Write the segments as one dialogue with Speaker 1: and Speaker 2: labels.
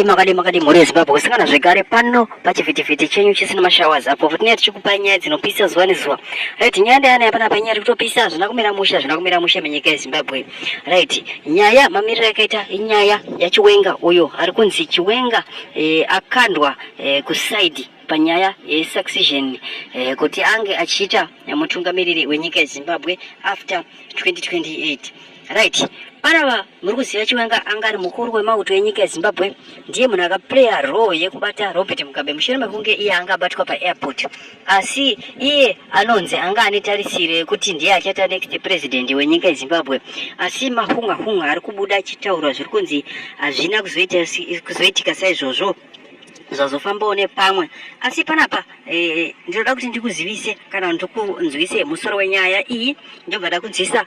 Speaker 1: Makadi makadi mhuri yeZimbabwe kusangana zvekare pano pachivhitivhiti chenyu chisina mashawa zapo kuti nyaya tichikupai nyaya dzinopisa zuva nezuva right nyaya ndeyana yapana panyaya tiri kutopisa hazvina kumira mushe hazvina kumira mushe menyika yeZimbabwe right nyaya mamiriro yakaita inyaya yachiwenga uyo ari kunzi chiwenga eh, akandwa eh, kusaidi panyaya yesuccession eh, kuti ange achiita mutungamiriri wenyika yeZimbabwe after 2028 right panava muri kuziva chiwenga anga ari mukuru wemauto enyika yezimbabwe ndiye munhu akaplaya roo yekubata robert mugabe mushure mekunge iye anga abatwa paairport asi iye anonzi anga ane tarisiro yekuti ndiye achata next president wenyika yezimbabwe asi mahunga hunga ari kubuda achitaurwa zviri kunzi hazvina kuzoitika saizvozvo zvazofambawo nepamwe asi panapa e, ndinoda kuti ndikuzivise kana ndikunzwise musoro wenyaya iyi ndobva ndakunzwisa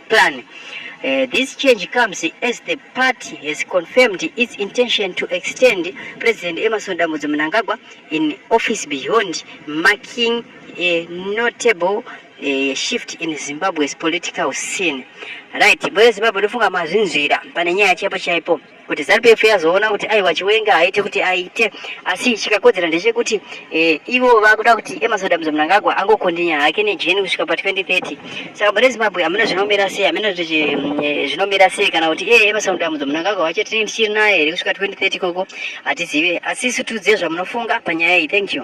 Speaker 1: plan. Uh, this change comes as the party has confirmed its intention to extend President Emerson Dambudzo Mnangagwa in office beyond marking a notable uh, shift in Zimbabwe's political scene. Right, boyo Zimbabwe ndofunga mazvinzwira pane nyaya chaipo chaipo. kuti ZANU-PF yazoona kuti aiwa Chiwenga haite kuti aite, asi chikakodzera ndechekuti e, ivo vakuda kuti Emerson Adams Mnangagwa angokondinya hake nejeni kusvika pa 2030 saka mune Zimbabwe hamuna zvinomira sei, hamuna kuti eh, zvinomira sei kana kuti iye Emerson Adams Mnangagwa wacho tine tichiri naye here kusvika 2030 koko hatizive, asi isu tiudze zvamunofunga panyaya iyi. Thank you.